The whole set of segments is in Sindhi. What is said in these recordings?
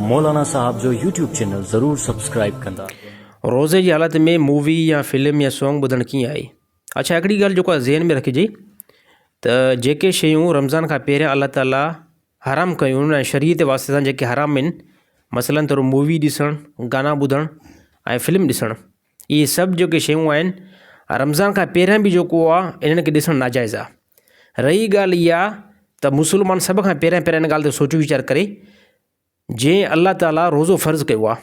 مولانا صاحب جو يوٽيوب چينل ضرور سبسڪرائيب ڪندا. روزي جي حالت ۾ مووي يا فلم يا سونگ ٻڌڻ ڪيئن آهي اڇا هڪڙي ڳالهه جيڪو ذهن ۾ رکجي ته جيڪي شيون رمضان کان پهريان الله تعالي حرام ڪيون ۽ شريعت جي واسطي سان جيڪي حرام آهن مثلا طور مووي ڏسڻ گانا ٻڌڻ ۽ فلم ڏسڻ اهي سڀ جيڪي شيون آهن رمضان کان پهريان به جيڪو آ انهن کي ڏسڻ ناجائز آ. رهي ڳالهه اها ته مسلمان سڀ کان پهريان پهريان ان ڳالهه تي سوچ ويچار ڪري جنهن الله تعاليٰ روزو فرض ڪيو آ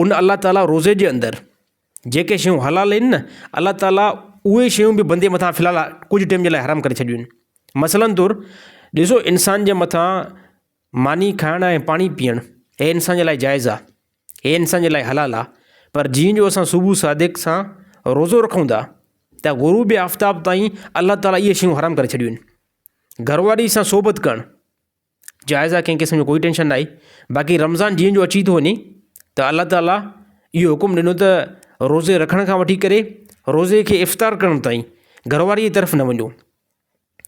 ان الله تعاليٰ روزي جي اندر جيڪي شيون حلال آهن نه الله تعاليٰ اهي شيون به بندي مٿان في الحال ڪجهه ٽيم جي لاء حرام ڪري ڇڏيون آهن مثلاً طور ڏسو انسان جي مٿان ماني کائڻ ۽ پاڻي پيئڻ هي انسان جي لاء جائز آ. هي انسان جي لاء حلال آ پر جيئن جو اسان صبح صادق سان روزو رکون ٿا ته غروب آفتاب تائين الله تعالي اهي شيون حرام ڪري ڇڏيون آهن گهر واري سان صحبت ڪرڻ جائز آ ڪنهن قسم جو ڪوئي ٽينشن ناهي باقي رمضان جيئن جو اچي ٿو وڃي ته الله تعالي اهو حڪم ڏنو ته روزي رکڻ کان وٺي ڪري روزي کي افطار ڪرڻ تائين گهر واري جي طرف نه وڃو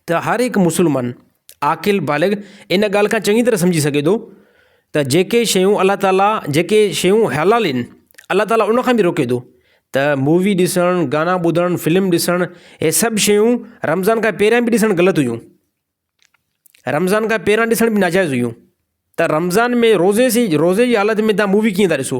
ته هر هڪ مسلمان، عاقل بالغ، ان ڳالهه کان چڱي طرح سمجهي سگهي ٿو ته جيڪي شيون الله تعاليٰ جيڪي شيون حلال آهن الله تعاليٰ ان کان به روڪي ٿو ته مووي ڏسڻ، گانا ٻڌڻ، فلم ڏسڻ هي سڀ شيون رمضان کان پهريان به ڏسڻ غلط هيون. رمضان کان پهريان ڏسڻ به ناجائز هيون ته رمضان ۾ روزي سي روزي جي حالت ۾ تهان مووي ڪيئن ٿا ڏسو.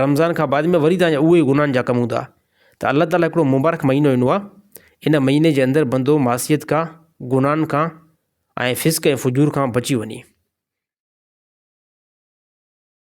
رمضان کان بعد ۾ وري تنهنجا اهي گناهن جا ڪم هوندا ته الله تعاليٰ هڪڙو مبارڪ مهينو ايندو آهي ان مهيني جي اندر بندو معصيت کان گناهن کان ۽ فسق ۽ فجور کان بچي وڃي.